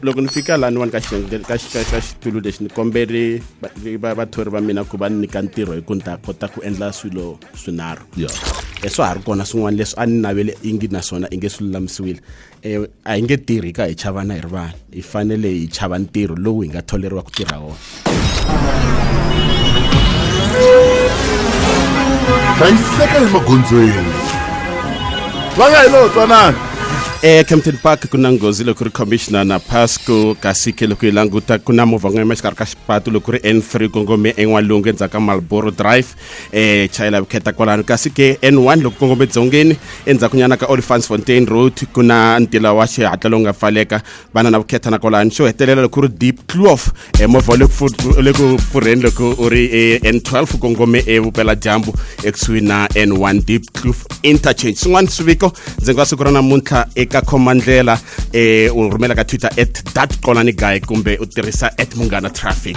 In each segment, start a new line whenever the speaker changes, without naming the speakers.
loko ni fika laniwani ka ka ka xitulu lexi ni kombele vathori va mina ku va ni nyika ntirho hi ku ni ta kota ku endla swilo swinharhu e swa ha ri kona swin'wana leswi a ni navele ingi naswona i nge swi lulamisiwile um a hi nge tirhi ka hi chavana hi ri vanhu hi fanele hi chava ntirho lowu hi nga tholeriwa ku tirha wona
hlayiseka emagondzweni va nga hi lowo twanana ecampton
park ku na nghozi loko ri commissioner na pasco kasi ke loko yi languta ku na movha n'we emaxikarhi ka xipatu loko ri n3 kongome en'walungu endzhaku ka malboro drive um chayela vukheta kwalano kasi ke n1 loko kongome dzongeni endzhakunyana ka olifans fontain road ku na ntila wa xihatla lowu nga pfaleka va na na vukheta na kwalani xo hetelela loko ri deep clof e movha wa le ku pfurheni loko u ri e n 12 kongome evupela dyambu ekusuhi na n 1 deep clof interchange swin'wana swiviko ndzi nga siku ra namuntlha eka khomandlela um u rhumela ka twitter at dat qolani guy kumbe u tirhisa at munghana traffic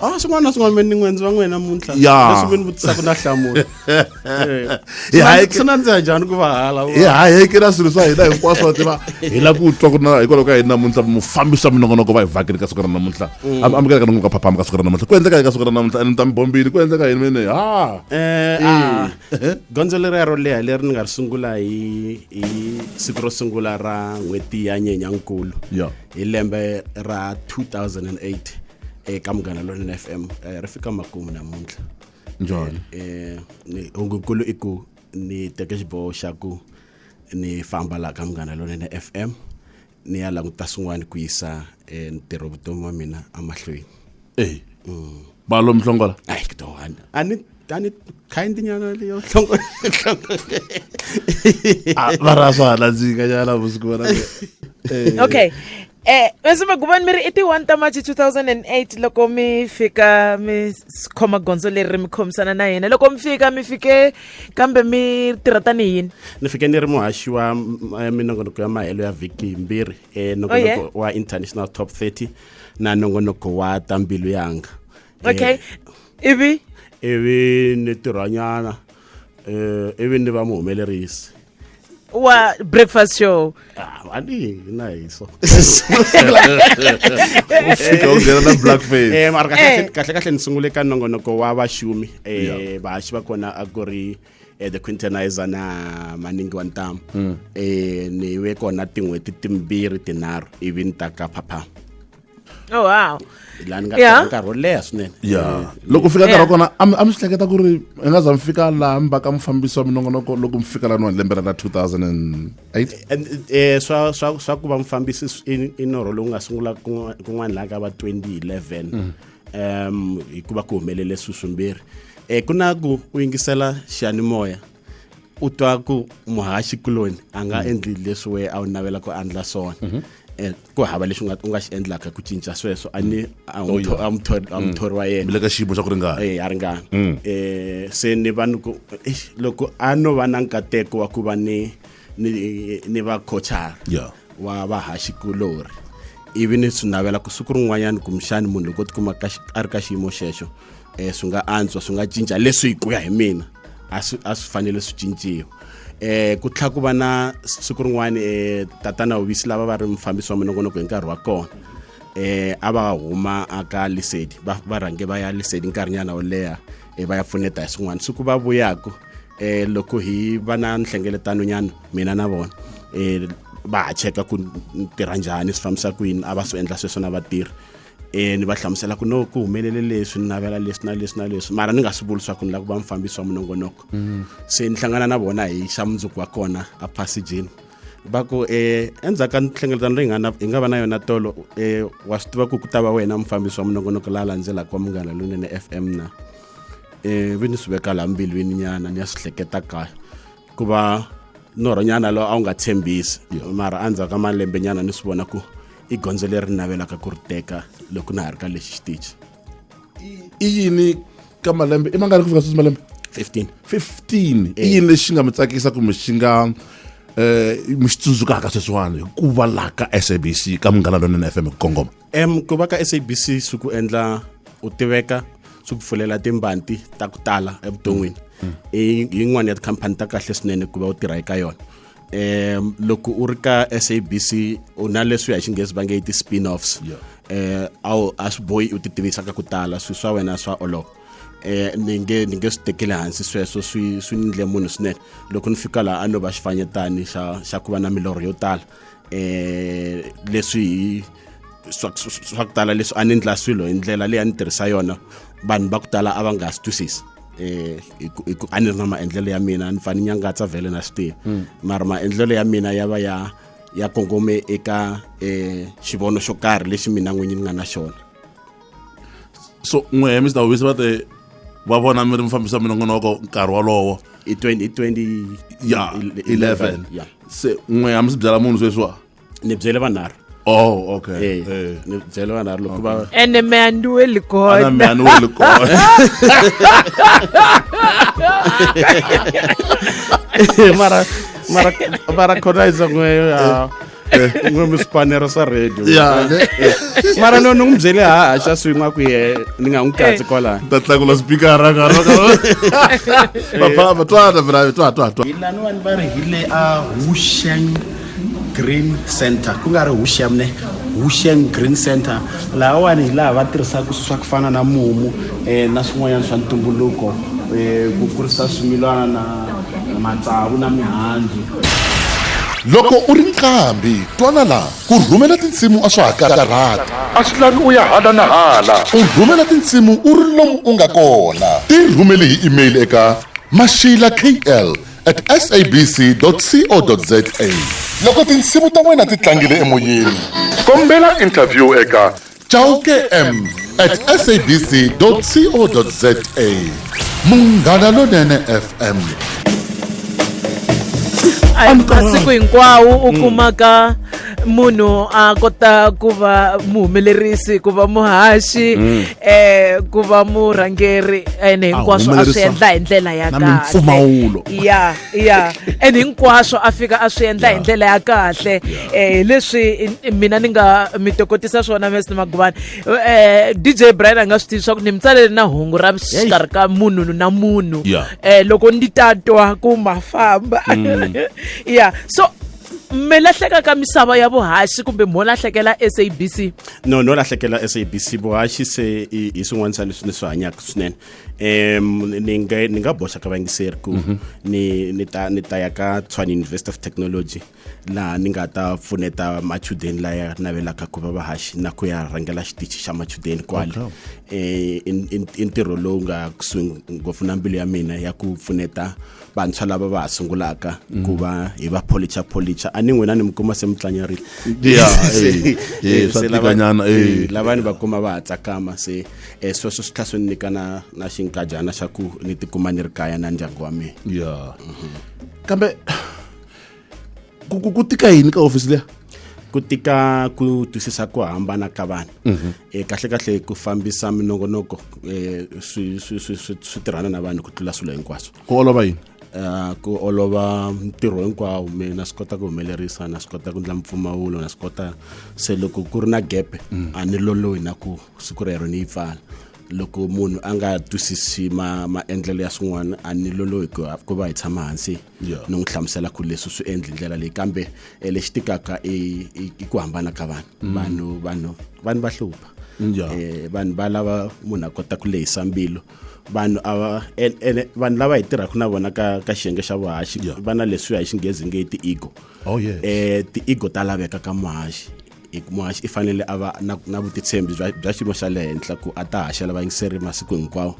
Ah, swin'wana na swin'wana ni
n'wenzi va n'wina namuntlha leswi mi ni vutisaka
na
hlamula
swi nandziha njhani
ku vahala hi hayekela swilo swa
hina hinkwaswo wa tiva hi la ku twa ku na hikwalaho ka hina namuntlha mufambisi wa minongonoko va hi vhakeli ka siku ra namuntlha mm. amukeleka ni ka phaphama ka siku ra namuntlha ku endleka ka siku ra namuntlha and ta mi bombile ku endleka yini mene ha eh, ah. eh.
gondzo leri ya ro leha leri ni nga ri sungula hi hi siku ro sungula ra n'hweti ya nyenyankulu hi lembe ra 2008 eka munghana lonene f m eh, ri fika makumu namuntlha njhani
eh, ni-
hungukulu i ku ni teke xiboho xa ku ni famba laha ka munghana lonene f m ni ya languta swin'wana ku yisa eh, ntirho vutomi wa mina emahlweni eyi
balo mhlongola ayi kudowani
a ni tani kind nyana leyo hlongo hlongo
ah, va ra swa hala dzinga nyana vusiku vona eh. okay
Eh, mese magubani mi ri i ti 1 ta march 2008 loko mi fika mi khoma gondzo leri mi khomisana na yena loko mi fika mi fike kambe mi tirha tani yini ni fike ni ri muhaxi
wa eh, minongonoko ya mahelo ya vhiki yimbirhi enongonoko eh, oh, wa international top 30 na nongonoko wa ta mbilu yanga okay
ivi ivi ni tirhwanyana
um ivi ni va muhumelerisi wa
breakfast show ah, ani
na hiso
ufika unghena na black face eh mara kahle eh. kahle kahle
ni sungule ka nongonoko wa vaxumi eh vahaxi va kona a ku ri e the quintenizer na maningi wa ntamu mm. e ni ve kona tin'hweti timbirhi tinharhu ivi ni ta ka phapha oh
wow la ni nga yeah.
nkarhi wo leha swinene ya loko fika nkarhi
wa kona a mi swi hleketa ku ri i nga za mi fika laha mi va ka mufambisi wa minongonoko loko mi fika laniwani lembe ra la 2008 swa swa swa ku va mufambisi
i norho lowu nga sungula kun'wana laha ka va 2011 mm. um hikuva ku humelele swi swimbirhi um ku na ku u yingisela xiyanimoya u twa ku muhaxi kuloni a nga mhm. endli leswi wena a wu navela ku andla swona mhm. eh, ku hava lexi u nga xi endlaka ku cinca sweswo a ni a muthori wa yena le ka xiyimo xa ku ringana
eh, a ringana
um se ni va ni ku loko a no va na nkateko wa ku va ni ni ni va coachara yeah. wa vahaxikulori ivi ni swi navela ku siku rin'wanyana kumbexani munhu loko tikuma a ri ka xiyimo xexo um swi nga antswa swi nga cinca leswi hi ku ya hi mina a swi a swi fanele swi cinciwa um ku tlhela ku va na siku rin'wana um tatana hovisi lava va ri mufambisi wa minongonoko hi nkarhi wa kona um a va huma aka lisedi va rhange va ya lisedi nkarhinyana wo leha um va ya pfuneta hi swin'wana siku va vuyaku eh loko hi va na nhlengeletano nyana mina na vona eh va ha cheka ku tirha njhani swi fambisa ku yini a va swi endla sweswo na vatirhi eh ni va hlamusela ku no ku humelele leswi ni navela leswi na leswi na leswi mara ni nga swi vuli swa ku ni la ku va mufambisi wa minongonoko mm. se ni hlangana na vona hi xa mundzuku wa kona a passagini va ku um eh, endzhaku ka nhlengeletano leyi nga na hi nga va na yona tolo um wa swi tiva ku ku ta va wena mufambisi wa minongonoko la landzelaka wa munghana lonene f m na e vi ni swi veka laha mbilwini nyana ni ya swi hleketa kahle ku va norho nyana lowu a wu nga tshembisi mara endzhaku ka malembe nyana ni swi vona ku i gondzo leri navelaka ku ri teka loko na ha ri ka lexi xitichi
i yini ka malembe i mangani ku fika sweswi malembe 15 15 i yini lexi nga mi tsakisa kumbe xi nga um mi xi tsundzukaka sweswiwani hi ku va laha ka sabc ka munghana lonene fm hi ku kongoma em ku va ka
sabc swi ku endla u tiveka swi ku pfulela timbanti ta ku tala evuton'wini mm. Mm. i yin'wana ya tikhampani ta kahle swinene ku va u tirha eka yona um loko u ri ka sabc u na leswi hi xinghezi va nge i ti-spin offs um eh, a swi boyi u ti tivisa ka ku tala swilo swa wena swa olova eh ni nge ni nge swi tekeli hansi sweswo swi swi ni ndle munhu swinene loko ni fika laha a no va xifanyetani xa xa ku va na milorho yo tala eh leswi swa ku tala leswi a ni ndla swilo hi ndlela leyi a ni tirhisa yona vanhu va ku tala a va nga swi twisisi eh a ni ri na maendlelo ya mina ni fane nyangatsa vhele na swi tivi hmm. mara maendlelo ya mina ya va ya ya kongome eka eh xivono xo karhi lexi mina n'winyi ni nga na xona
so n'we he mr hobisi va te va vona mi ri mufambisi wa minongonoko nkarhi wolowo i 2011
ya 11
ya se n'we a mi swi byela munhu sweswiwa ni byele vanharhu
Oh, okay. Hey, eh, hey. Eh.
Ni byele vanharhu
loko va ene me a ni weli
kona me a ni weli kona mara
mara mara khona izan'weyo ya eh, n'we mi swipanero swa radio mara no ni n'wi byele haha xa swin'wi a ku ye ni nga n'wi katsi eh. kwalaya ta tlakula spikara
kaapapa twana mina twa twa twa hilaniwani va ri hi
le a husheng green center ku nga ri husheng ne husheng green center lahawani hi laha va tirhisaka swilo swa ku fana na mumu um na swin'wanyana swa ntumbuluko um ku kurisa swimilana na matsavu na mihandzu
loko u ri nqambi twana la ku rhumela tinsimu a swa ha karhati a swi lavi u ya hala na hala u rhumela tinsimu u ri lomu u nga kona ti rhumeli hi email eka mashila kl at sabc co za loko tinsimu ta wena ti tlangile emoyeni kombela interview eka chauke m at sabc co za munghana lonene fm
a hi masiku hinkwawo u kumaka munhu a kota ku va muhumelerisi ku va muhaxi um ku va murhangeri ene hinkwaswo a swi humelerisa endla hi ndlela ya na kahle mimpfumawulo. ya ya and hinkwaswo a fika a swi endla hi ndlela ya kahle um leswi mina ni nga mi tokotisa swona mesni maguvani um eh, dj brian a nga swi tivi swa ku ni mi tsalele na hungu ra xikarhi ka munhu na munhu um loko ndi ta twa ku ma famba mm. ya so mi lahleka ka misava ya vuhaxi kumbe mo lahlekela sabc no no lahlekela
sabc vuhaxi se hi swin'wana swa leswi ni swi hanyaka swinene um ni nga ni nga boxa ka vangiseri ku mhm. ni ni ta ni ta ya ka tshwane university of technology laha ni nga ta pfuneta machudeni laya navelaka ku va vahaxi na ku ya rhangela xitichi xa machudeni kwale um eh, i ntirho lowu nga kusuhi ngopfu na mbilu ya mina ya ku pfuneta vantshwa lava va ha sungulaka mm. ku va hi va policha policha a ni n'wina ni mi kuma se mi tlanyarile eh, eh, lavani va kuma va ha tsakama se e sweswo swi tlha swi ni nyika na na xinkajana xa ku ni tikuma ni ri kaya na ndyangu wa mina ya
kambe ku ku- ku tika yini ka hofisi leya ku tika
ku twisisa ku hambana ka vanhu e kahle kahle ku fambisa minongonoko e swi swi swi swi swi tirhana na vanhu ku tlula swilo hinkwaswo ku olova yini
Ah, ku olova
ntirho hinkwawo mi na swi kota ku humelerisa na swi kota ku endla mpfumawulo na swi kota se loko ku ri na gepe a ni lolohi na ku siku rero ni yi pfala loko munhu a nga twisisi ma maendlelo ya swin'wana a ni lolohi ku va hi tshama hansi ni n'wi hlamusela ku leswi swi endli ndlela leyi kambe eh, lexi tikaka i ku hambana ka vanhu mm. vanhu vanhu vanhu va hlupha eh, vanhu va lava munhu a kota ku lehisa mbilu vanhu ava ene vanhu lava hi tirhaka na vona ka ka xiyenge xa vuhaxi va na leswiya hi xinghezi nge ti-ego oh, yes. um eh, ti-ego ta laveka ka muhaxi i kuma i fanele a va na, na vutitshembi bya, bya xiyimo xa le henhla ku a ta haxela vayingiseri masiku hinkwawo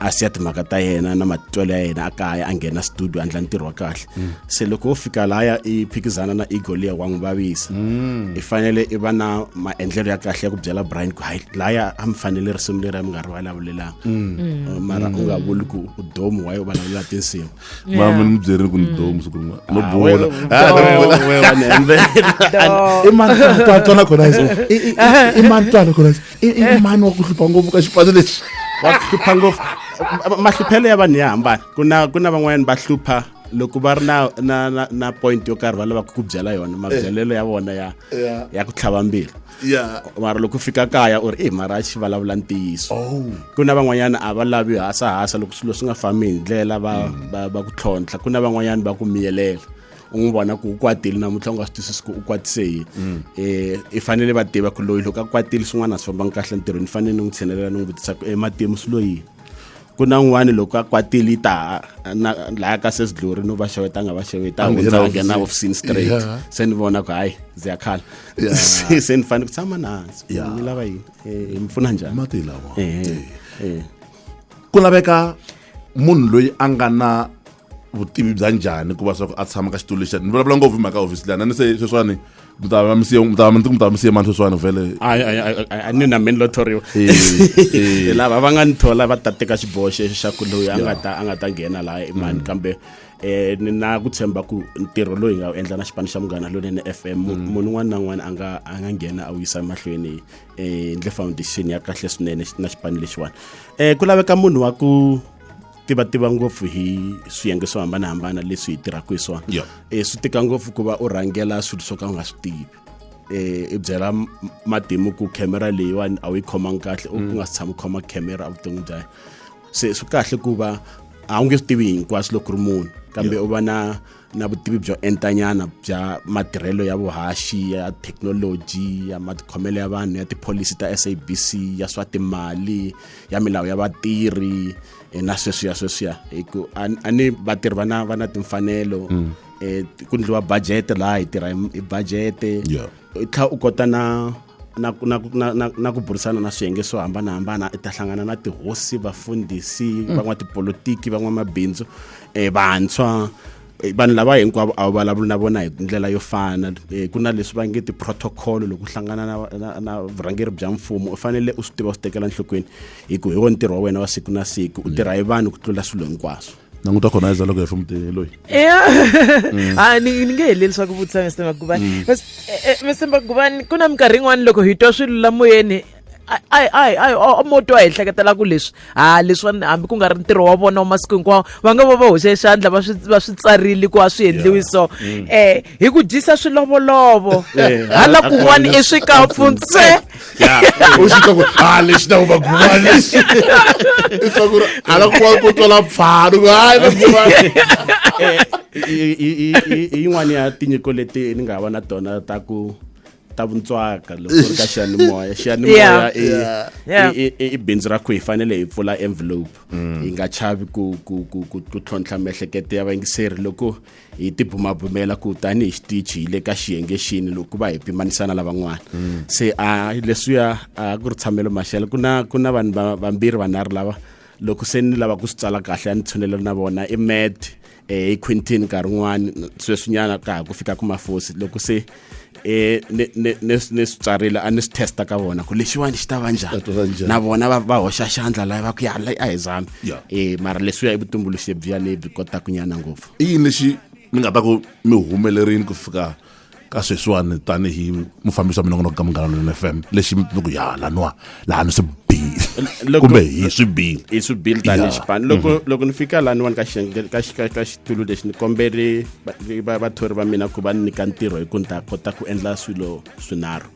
a siya timhaka ta yena na matitwelo ya yena a kaya a nghena studio a ndla ntirho wa kahle mm. se loko wo fika laya i phikizana na ego liya wa n'wi vavisa mm. i fanele i va na maendlelo ya kahle ya ku byela brian ku hayi laya a mi fanele risimu leri a mi nga ri vulavulelanga mm. mara u nga vuli ku udomu wa yo vulavulelaka tinsimu mama ni mi byerile
ku ni mm. domu siku rin'wana no ah, bola ah,
i mani twana khona i mani twana khona i mani wa ku hlupha ngopfu ka xipano lexi wa ku hlupha
ngopfu mahluphelo ya vanhu ya hambana ku na ku na van'wanyana va hlupha loko va ri na na na, na point yo karhi va lavaka ku byela yona mabyelelo ya vona ya ya ku tlhava mbilu yeah. mara loko fika kaya u ri e mara xi vulavula ntiyiso oh. ku na van'wanyana a va lavi hasahasa loko swilo swi nga fambi hi ndlela va, mm. va, va ku tlhontlha ku na van'wanyana va ku miyelela u n'wi vona ku u kwatile namuntlha u nga swi twisisi ku u kwatise yini mm. eh, i fanele va tiva ku loyi loko a kwatile swin'wana a swi fambanga kahle ntirhweni ni fanele ni n'wi tshinelela ni n'wi vutisa ku ematimu eh, swi loyini ku na n'wani loko a kwatile yi ta laya ka sesi glory no va xeweta a nga va xeweta a hundza a nghena hofisini straight se ni vona ku hayi ndzi ya khala se ni fanele ku tshama nahansi ni lava yini eh, hi mi pfuna njhani mati lawa eh,
eh, ku laveka munhu loyi a nga na vutivi bya njhani ku va swa ku a tshama ka xitulu lexa ni vulavula ngopfu hi mhaka hofisi leyi a ni se sweswiwani mi ta va mi siye mi ta va mi mi ta va mi siye mani sweswiwani vhele a ni na
meni lo thoriwa lava va nga ni thola va ta teka xiboho xexo xa ku loyi a nga ta a nga ta nghena laha i mani mm. kambe eh ni na ku tshemba ku ntirho loyi nga wu endla na xipano xa munghana lonene f m mm. munhu un'wana na un'wana a nga a nga nghena a wu yisa emahlweni um ndle foundation ya kahle swinene na xipano lexiwani um ku laveka munhu wa ku tiva tiva ngopfu hi swiyenge swo hambanahambana leswi hi tirhaka hi swona yeah. e, swi tika ngopfu ku va u rhangela swilo swo ka u nga swi tivi eh i byela matimu ku camera leyiwani a wu yi khomanga kahle u nga si tshama u khoma camera a vuton'wini bya se swi kahle ku va a wu nge swi tivi hinkwaswo loko ri munhu kambe u va na na vutivi byo entanyana bya matirhelo ya vuhaxi ya thekinoloji ya matikhomelo ya vanhu ya tipholisi ta sabc ya swa timali ya milawu ya vatirhi eh, na sweswiya sweswiya hi ku a ni vatirhi va na va na timfanelo mm. eh, ku ndliwa budget laha hi tirha hi budget i tlha u kota na na, na, na, na, na ku burisana na swiyenge swo hambanahambana i ta hlangana na tihosi vafundhisi mm. van'watipolitiki van'wamabindzu um vantshwa Eh, vanhu lava hinkwavo a wu vulavuli na vona hi ndlela yo fana eh, ku na leswi va nge ti-protocol loko hlangana na, na, na vurhangeri bya mfumo u fanele u swi tiva u swi tekela nhlokweni hi ku hi wo ntirho wa wena wa siku na siku u tirha hi vanhu ku tlula swilo hinkwaswo languta khona iza loko
hi fa mutini loyi ya mm.
a ni ni nge heleli swa ku vutisa mr magubani mm. eh, eh, mr magubani ku na minkarhi yin'wana loko hi twa swilo la moyeni ai ai ai mo twa hi hleketela ku leswi ha leswiwani hambi ku nga ri ntirho wa vona wa masiku hinkwawo va nga va va hoxe xandla va swi va swi tsarile ku a swi endliwi so um hi ku dyisa swilovolovo eh, hala kun'wana i swikapfu ntsena ya u
xi twa ku ha lexi na vumaguma lexi i twa ku ri a la kuwa ku twala pfhalo ku hayi vaguma
hi yin'wana ya tinyiko leti ni nga va na tona ta ku ta vuntswaka loko ri ka xiyanimoya xiyanimoya i bindzu ra ku hi fanele hi pfula envelope mm. hi nga chavi ku ku ku ku ku tlhontlha miehleketo ya vayingiseri loko hi tibumabumela ku tanihi xitichi hi le ka xiyenge xini loko va hi pimanisa na lavan'wana mm. se a leswiya a ku ri tshamelo maxelo ku na ku na vanhu vambirhi vanharhu lava loko se ni lava ku swi tsala kahle a ni tshunelo na vona i med um eh, hi quintin nkarhi wun'wani sweswinyana ka ha ku fika ku mafosi loko se eh ni swi tsarile a ni swi testa ka vona ku lexiwani xi ta va njhani na vona va hoxa xandla laha va ku ya a hi zami eh mara leswiya i vutumbuluxi byiya lebyi kotaka nyana ngopfu i yini lexi
ni nga ta ku mi humelerini ku fika ka sweswiwani tanihi mufambisi wa minongonoko ka munghana lweni f m lexi mi ku ya laniwa laha ni swi bili kumbe hi swi bili hi swi bili tanihi xipano loko
mhm. loko ni fika laniwani ka ka ka xitulu lexi ni kombele vathori va mina ku va ni nyika ntirho hi ku ni ta kota ku endla swilo swinharhu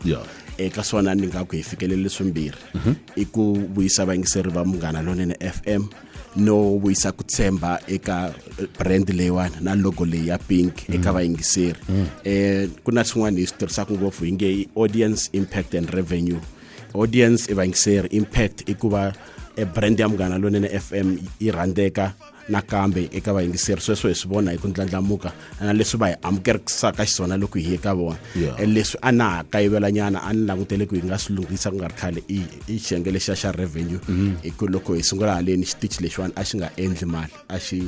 eka swona ni nga ku hi fikelele swimbirhi mhm. i ku vuyisa vayingiseri va munghana lonene f m no vuyisa ku tshemba eka eh, brand leyiwani na logo leyi ya pink mm. eka vayingiseri mm. eh ku na swin'wana hi swi tirhisaka ngopfu hi nge i audience impact and revenue audience i va yingiseri impact i ku va e brand ya munghana lonene fm yi rhandzeka nakambe eka vayingiseri sweswo hi swi vona hi ku ndlandlamuka na leswi va hi amukerisaka xiswona loko hi ye ka vona yeah. E leswi a na ha kayivelanyana a ni langutele ku hi nga swi lunghisa ku nga ri khale i xiyenge lexiya xa revenue mm -hmm. hi ku loko hi sungula haleni xitichi lexiwani a xi nga endli mali a xi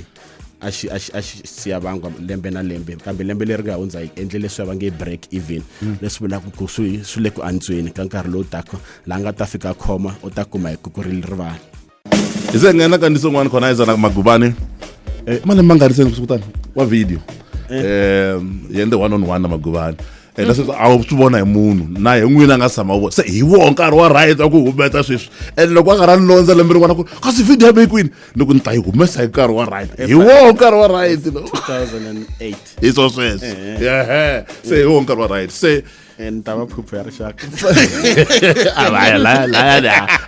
a xi a xi a xi siya vangwa lembe na lembe kambe lembe leri nga hundza hi endle leswi va nge break even hmm. leswi vulaka ku swi swi le ku antsweni ka nkarhi lowu taka laha nga ta fika khoma u ta kuma hi kukurili rivala hi se
nghena ka ndiso n'wana khona izana magubane um malembe ma nga ri seni kusukutani wa video um eh. yende one on one na magubane eh, leswi a wu swi vona hi munhu na hi n'wini a nga tshama vona se hi woho nkarhi wa right wa ku humesa sweswi and loko a nga ra ni londza lembe rin'wana ku kasi video ya mekwini ni ku ni ta yi humesa hi nkarhi wa right hi woho nkarhi wa right lo
hi swo sweswo
eh, eh. se hi woho nkarhi wa right se and tava
phuphu ya
rixaka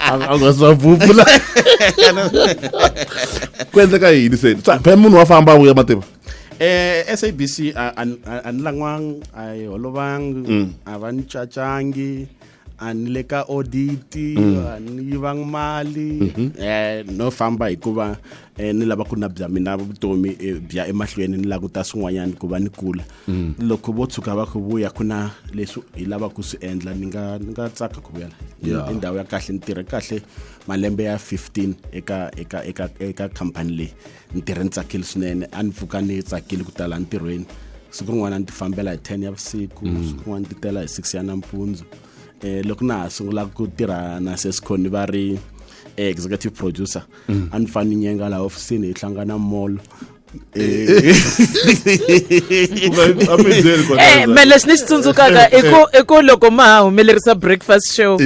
a nga swa phuphu la ku endleka yini se phela munhu wa famba a vuya mativa eh SABC a
a ni- a- a ni langwanga a yi holovangi Mm. a va ni cacangi a ni le ka audit Mm. a ni yivangi mali Mhm. eh no famba hikuva eh, ni lava ku na bya mina vutomi eh, bya emahlweni ni languta swin'wanyana ku va ni kula Mm. loko vo tshuka va ku vuya ku na leswi hi lava ku swi endla ni nga ni nga tsaka ku vuyela Ni- Yeah. i ndhawu ya kahle ni tirhe kahle malembe ya 15 eka eka eka eka khampani leyi ni tirhe ni tsakile swinene a ni pfuka ni tsakile ku tala entirhweni siku rin'wana ni ti fambela hi 10 ya vusiku mm. siku rin'wana ti tela hi 6 ya nampundzu um loko na ha sungula ku tirha na sesconi va ri eh, executive producer mm. a ni fane ni nyenga laha ofisini hi hlangana molo Eh,
eh, me leswi ni xi tsundzukaka i ku loko ma ha humelerisa breakfast show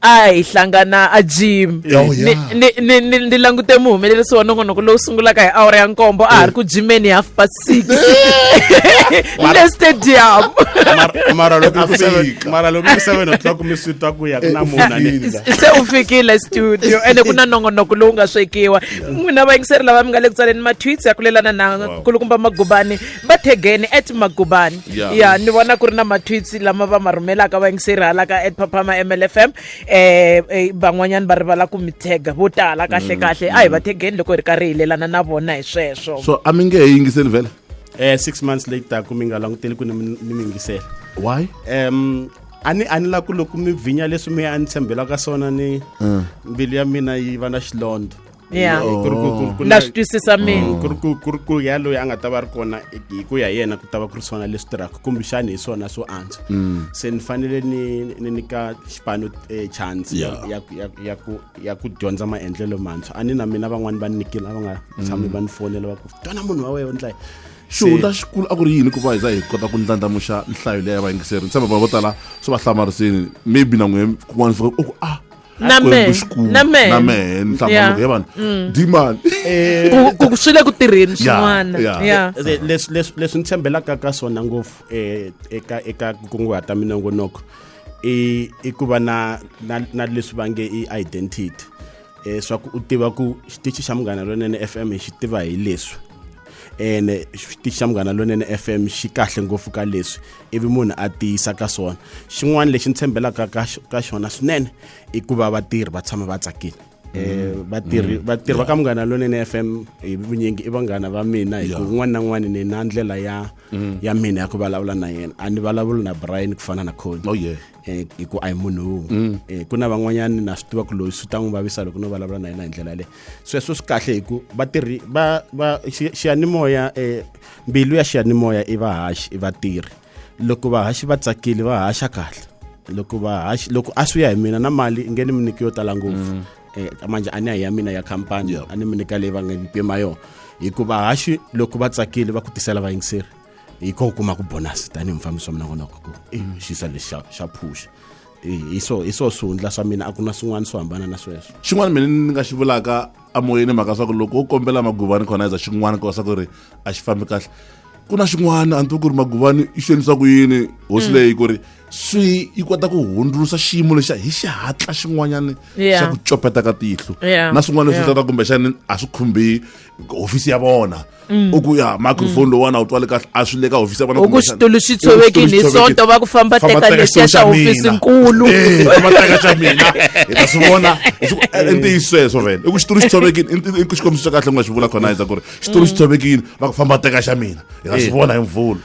a hi hlangana a gym Oh, Ni- yeah. ni- ni- ni- ni langute muhumelerisi wa nongonoko lowu sungulaka hi awara ya nkombo a ha ri ku jimeni hi half past six le stadium Mara- mara loko i ku seven- Afrika.
mara loko i ku seven o'clock mi swi twa ku ya ku na munhu a ni- se u fikile
studio ende ku na nongonoko lowu nga swekiwa n'wina vayingiseri lava mi nga le ku tsaleni ma-tweets ya kulelana na Wow. kulukumba magubani va thegeni at magubani ya yeah. ni vona ku ri na matwitsi lama va ma rhumelaka vayingiseri hala ka at papama mlfm eh, eh van'wanyana va rivala ku mi tega vo tala kahle mm, kahle a hi mm. va thegeni loko hi ri karhi hi lelana na vona hi sweswo so a mi nge hi yingiseli
vhele eh six months
later ku mi nga languteli ku ni mi yingisela why um
a
ni a ni lava ku loko mi vhinya leswi mi a ni tshembela ka swona ni mm. mbilu ya mina yi va na xilondza ya ku ri ku- ku-
ku- na swi twisisa mina ku ri ku- ku ri ku ya loyi
a nga ta va ri kona hi ku ya yena ku ta va ku ri swona leswi tirhaka kumbexani hi swona swo antswa se ni fanele ni ni nyika xipano eh, chance ya- Yeah. ya- ya- ya ku- ya ku dyondza maendlelo mantshwa a ni na mina van'wani va ni nikile a va nga tshami va ni fonela va ku twana munhu wa wehe u ndlayi xihundla xikulu
a ku ri yini ku va hi za hi kota ku ndlandlamuxa nhlayo leyi ya vayingiseri ni tshemba vanhu vo tala swi va hlamarisini maybe na n'we kun'wana swi ku ah na mehe
na mehe na mehe ni
hlamba loko yevana dimani ku
swi le ku tirheni swin'wana ya leswi
leswi leswi ni tshembelaka ka swona ngopfu eh, eka eka ku kunguhata minongonoko i i ku va na na na leswi va nge i identity eh swa ku u tiva ku xitichi xa munghana lonene FM xi tiva hi leswi ene xitichi xa munghana lonene FM xi kahle ngopfu ka leswi ivi munhu a tiyisa ka swona xin'wana lexi ni tshembelaka ka xona swinene i ku va vatirhi va tshama va tsakile Eh, mm. vatirhi mm. vatirhi va ka munghana lonene f m hi vunyingi i vanghana va mina hi ku un'wana na un'wana ni na ndlela ya mm. ya mina ya ku vulavula na yena a ni vulavuli na brian ku fana na cony oh, eh, hi ku a hi munhu wun'we eh, ku na van'wanyana na swi tiva ku loyi swi ta n'wi vavisa loko no vulavula na yena hi ndlela yaleyo sweswo swi kahle hi ku vatirhi va va xiyanimoya um mbilu ya xiyanimoya i vahaxi i vatirhi loko vahaxi va tsakile va haxa kahle loko vahaxi loko a swi ya hi mina na mali i nge ni mi nyiki yo tala ngopfu mm. eh, manje a ni ya hi ya mina ya khampani a ni mi nyika leyi va nga ni pima yona hikuva vahaxi loko va tsakile va ku tisela vayingiseri hi ko u kuma ku bonasi tanihi mufambisi wa mina vonaka ku i xisa lexi xa phuxa hi swo hi swo swihundla swa mina a ku na swin'wana swo hambana na sweswo xin'wana mina ni nga xi
vulaka amoyeni mhaka swa ku loko u kombela maguvani khona eza xin'wana ku va swa ku ri a xi fambi kahle ku na xin'wana a ni tivi ku ri maguvani i xonisa ku yini hosi mm. leyi ku ri swi yi kota ku hundzulusa xiyimo lexa hi xihatla xin'wanyana xa ku copeta ka tihlo na swin'wana leswi tata kumbexani a swi khumbi hofisi ya vona mm. u ku ya microphone mm. lowuwana u twale kahle a swi le ka hofisi ya vona ku switulu swi tshovekini
hi sonto va ku famba teka lexiya xa hofisi nkulu eh, famba teka xa
mina hi ta swi vona eh, ntiyiso sweswo vele i ku xitulu xi tshovekini i ku xikombiso xa kahle ku nga xi vula khona yendza ku ri xitulu xi mm. tshovekini va ku famba teka xa mina hi ta swi eh. vona hi mvula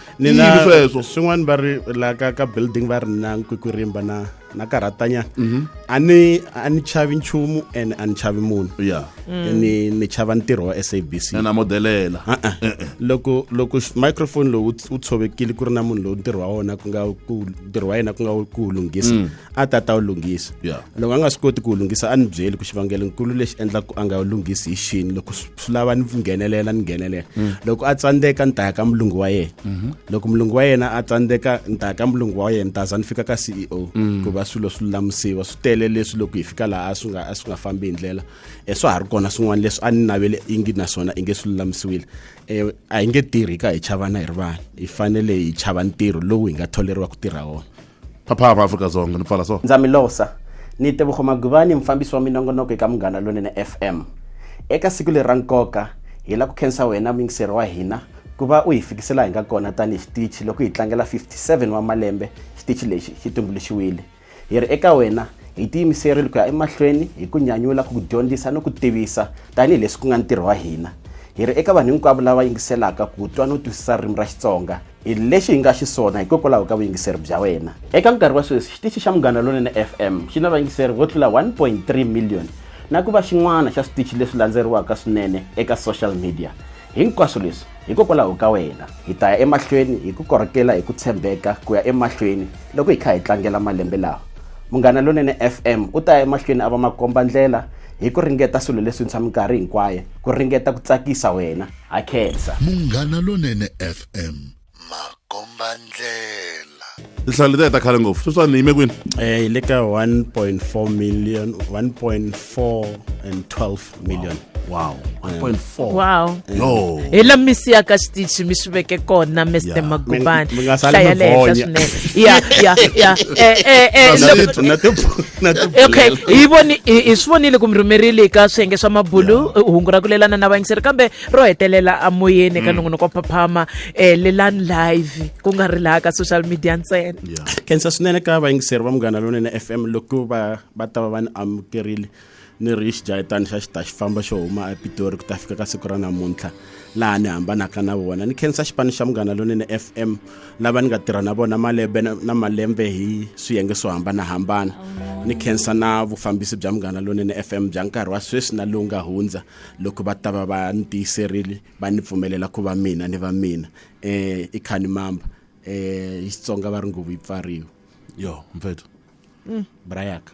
sweswo
swin'wana va
ri la
ka ka building va ri na nkwikwirimba na na karhatanyana mhm. a ni a ni chavi nchumu and a ni chavi munhu ya mm. ni ni chava ntirho wa sabc na modelela eh,
eh. loko
loko microphone lowu wu tshovekile ku ri na munhu lowu ntirho wa wona ku nga ku ntirho wa yena ku nga ku lunghisa mm. a ta ta wu lunghisa loko a nga swi koti ku wu lunghisa a ni byeli ku xivangelonkulu lexi endlaka ku a nga wu lunghisi hi xini loko swi lava ni nghenelela ni nghenelela mm. loko a tsandzeka ni ta ya ka mulungu wa yena mm-hmm. loko mulungu wa yena a tsandzeka ni ta ya ka mulungu wa yena ni ta za ni fika ka c e o mm. ku va swilo swi lulamisiwa swi tele leswi loko hi fika laha a swi nga a swi nga fambi hi ndlela um swa ha ri kona swin'wana leswi a ni navele i ngi naswona i nge swi lulamisiwile um a hi nge tirhi ka hi chavana hi ri vanhu hi fanele hi chava ntirho lowu hi nga tholeriwa ku tirha wona phaphama afrika
dzonga ni pfala so ndza mi losa
ni tebogo maguvani mufambisi wa minongonoko eka munghana lonene fm eka siku leri ra nkoka hi la ku khensa wena muyingiseri wa hina ku va u hi fikisela hi nga kona tanihi xitichi loko hi tlangela 57 wa malembe xitichi lexi xi tumbuluxiwile hi ri eka wena hi tiyimiserile ku ya emahlweni hi ku nyanyula ku dyondzisa ni ku tivisa tanihileswi ku nga ntirho wa hina hi ri eka vanhu hinkwavo lava yingiselaka ku twa no twisisa ririmi ra xitsonga hi lexi hi nga xiswona hikokwalaho ka vuyingiseri bya wena eka nkarhi wa sweswi xitichi xa munghana lonene fm xi na vayingiseri vo tlula 1.3 million na ku va xin'wana xa switichi leswi landzeriwaka swinene eka social media hinkwaswo leswi hikokwalaho ka wena hi ta ya emahlweni hi ku korhokela hi ku tshembeka ku ya emahlweni loko hi kha hi tlangela malembe lawa munghana lonene fm u ta ya emahlweni a va makomba ndlela hi ku ringeta swilo leswintshwa minkarhi hinkwayo ku ringeta ku tsakisa wena ha khensa munghana lonene
fm makombandlela tinhlayo letiya ta
khale ngopfu sweswani yime kwini eh hi le ka 1.4
million 1.4 and 12 million wow 1.4
wow yo
hi la
mi siyaka
xitichi mi swi veke kona mr Yeah. magubani Mi- mi nga sali hlaya mi le
henhla vonya. swinene
ya ya
ya eh eh eh That's
loko- it, na tiphu- okay hi voni hi swi vonile ku mi rhumerile ka swiyenge swa mabulu hungu ra ku lelana na vayingiseri kambe ro hetelela amoyeni eka mm. nongonoko wa phaphama um eh, lelani live ku nga ri laha ka social media ntsena khensa swinene ka
vayingiseri va munghana lonene f m loko va va ta va va ni amukerile ni ri xidlayetani xa xita xi famba xo huma epitori ku ta fika ka siku ra namuntlha laha ni hambanaka na vona ni khensa xipano xa munghana lonene f m lava ni nga tirha na vona malembe na malembe hi swiyenge swo hambanahambana ni khensa na vufambisi bya munghana lonene f m bya nkarhi wa sweswi na lowu nga hundza loko va ta va va ni tiyiserile va ni pfumelela ku va mina ni va mina um i khani mamba um hi xitsonga va ri nguvu yi pfariwe yo mpfethu
mm. brayaka